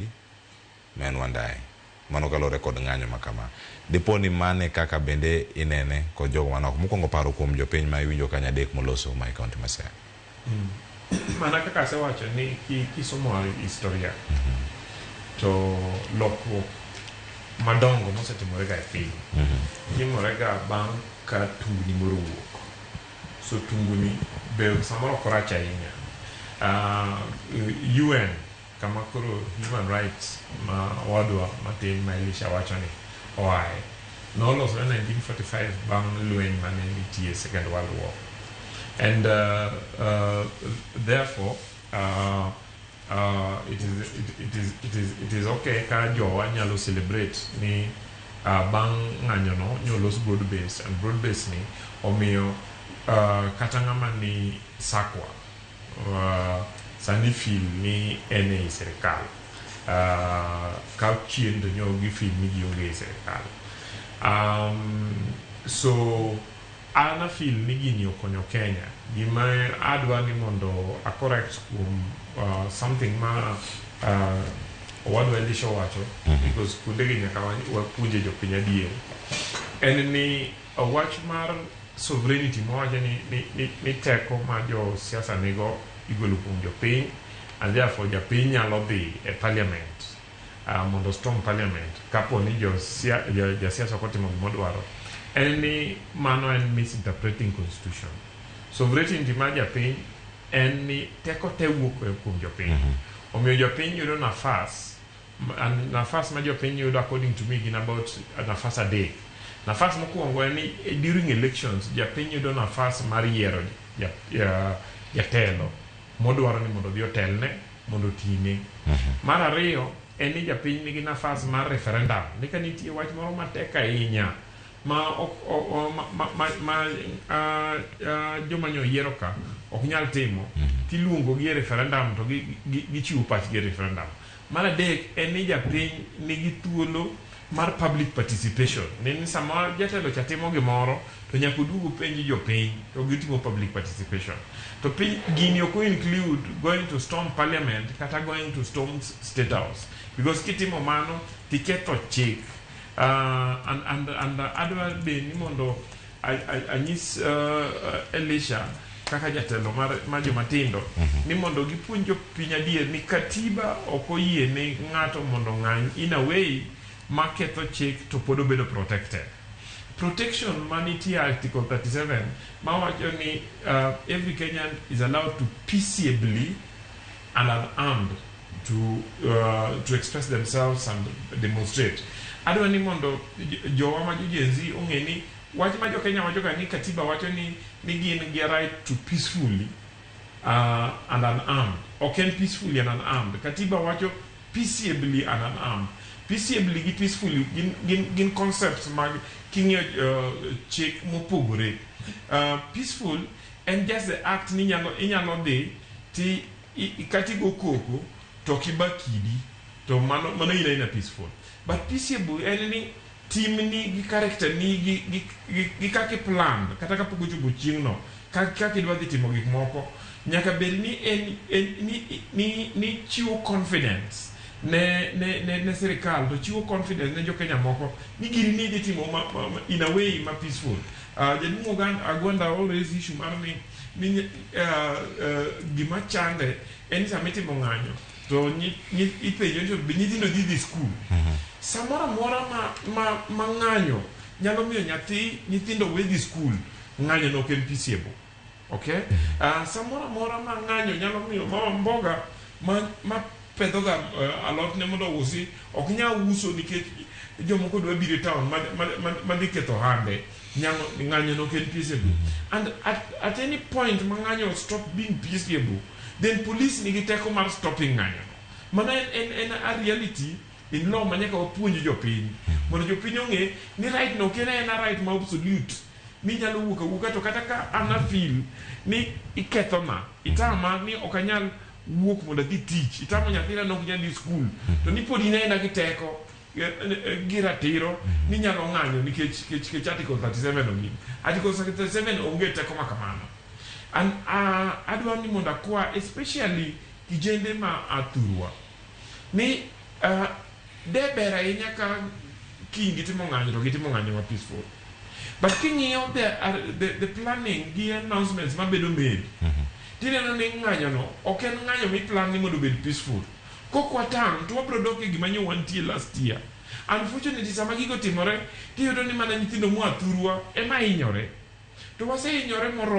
Omondi ma en Wandayi. Mano kaluwore kod ng'anyo ma kama. Dipo ni mano e kaka bende inene kod jogo man oko. Mokwongo paro kuom jopiny ma iwinjo ka nyadek moloso ma e kaonti ma Siaya. Mana kaka asewacho ni kisomo historia to lokruok madongo mosetimorega e piny timorega bang' ka tungni moro owuok. So tunguni be samoro ok orach ahinya. UN. Kama koro human rights ma owadwa matin ma Elisha wachoni oaye nolosore 1945 bang' lweny mane nitie second world war and uh, uh, therefore uh, uh, it, is, it, it, is, it, is, it is okay ka jowa nyalo celebrate ni uh, bang' ng'anyono nyolos broad base and broad base ni omiyo uh, kata ng'ama ni sakwa Sani fim ni en ei sirkal. Ka chien to nyo gi fim ni ji onge ei sirkal. So an a feel ni gini okonyo Kenya. Gima adwa ni mondo a correct kuom something ma owadwa Elisha owacho because kuonde gi nyaka wapuonje jopiny adier. En ni. Wach mar sovereignty mawacho ni, ni, ni, ni teko ma jo siasa nigo igolo kuom jopiny and therefore japiny nyalo dhi e parliament uh, mondo storm parliament kapo ni jo sia, jo, ja siasa ok otimo gima odwaro en ni mano en misinterpreting constitution sovereignty mar japiny en ni teko te wuok kuom jopiny omiyo jopiny yudo nafas And nafas ma jopiny yudo according to me gin about nafas adek. Nafas mokuongo en ni eh, during elections japiny yudo nafas mar yiero ja- ja- jatelo modwaro ni mondo odhi otelne mondo otine. Mar ariyo en ni japiny nigi nafas mar referendum. Ni ka nitie wach moro matek ahinya ma ok o- o- ma- ma- ma- ma ah, ah, joma nyo yiero ka ok nyal timo tiluongo gi e referendum to gi- gi- gichiwo pachgi e referendum. Mar adek en ni japiny nigi thuolo mar public participation, ni sama jatelo cha timo gimoro to nyaka oduog openj jopiny to gitimo public participation. To piny gini ok o include going to storm parliament kata going to storm state house because kitimo mano to iketho chik and adwa be ni mondo Anyis uh, Elisha kaka jatelo mar, mar joma tindo mm -hmm. ni mondo gipuonj jopiny adier ni katiba ok oyie ni ng'ato mondo ng'any in a way ma ketho chik to pod obedo protected protection ma nitie article 37 ma wacho ni uh, every kenyan is allowed to peaceably and an armed to, uh, to express themselves and demonstrate. Adwa ni mondo jowa ma jojenzi ong'e ni wach ma jokenya wachoga ni katiba wacho ni ni gin gi right to peacefully uh, and unarmed. Ok en peacefully and unarmed. Katiba wacho peaceably and unarmed. Peaceably gi peacefully gin, gin, gin concepts mag king'iyo uh, chik mopogore. Uh, peaceful En just the act ni inyalo inyalo dhi ti i, kata igo koko to ok iba kidi to mano mano in aina peaceful but peaceable en ni timni gi character ni gi, gi, gi, gi kaka iplan kata kapok ochopo chieng'no kaka kaka idwa dhi timo gik moko nyaka bed ni en, en ni, ni, ni chiwo confidence ne, ne, ne, ne sirikal to chiwo confidence ne jokenya moko ni gini ni idhi timo ma, ma, ma, in a way ma peaceful Uh, jaduong' Oganda Agwanda always issue mar ni ni uh, uh, gima chande en ni sama itimo ng'anyo to nyi- nyi- ipenjo ni to be nyithindo dhi dhi skul samoro amora ma, ma, ma ng'anyo nyalo miyo nyathi nyithindo we dhi skul ng'anyo no ok en peaceable Okay? Uh, samoro amora ma ng'anyo nyalo miyo mama mboga ma, ma pedhoga uh, alotne mondo ousi ok nyal uso nikech jomoko dwa biro e town madhi ma, ma, ma ketho hande ng'anyo nok en peaceable and at, at any point ma ng'anyo stop being peaceable then police nigi teko mar stopping ng'anyo mana en, en, en a reality in law ma nyaka wapuonj jopiny mondo jopiny ong'e ni right no ok en aena right ma absolute minyalo wuok awuoka to kata ka an afil ni ikethona itama ni ok anyal wuok mondo adhi tich itamo nyathina nok nyal dhi skul mm-hmm. to ni pod in aena gi teko e, e, e, gi ratiro mm-hmm. ni nyalo ng'anyo nikech kech kech article 37 ongin article 37 onge teko ma kamano an adwa ni mondo akwa especially kijende ma athurwa ni De ber ahinya ka kiny gitimo ng'anyo to gitimo ng'anyo ma peaceful. But king'iyo the, uh, the, the planning gi announcements mabedo made, tineno ni ng'anyono ok en ng'anyo miplan ni mondo obed peaceful. Kok watang' to wabiro dok e gima nyo wantie last year. Unfortunately, sama gigo otimore, tiyudo ni mana nyithindo moa thurwa ema hinyore. To wasehinyore moromo.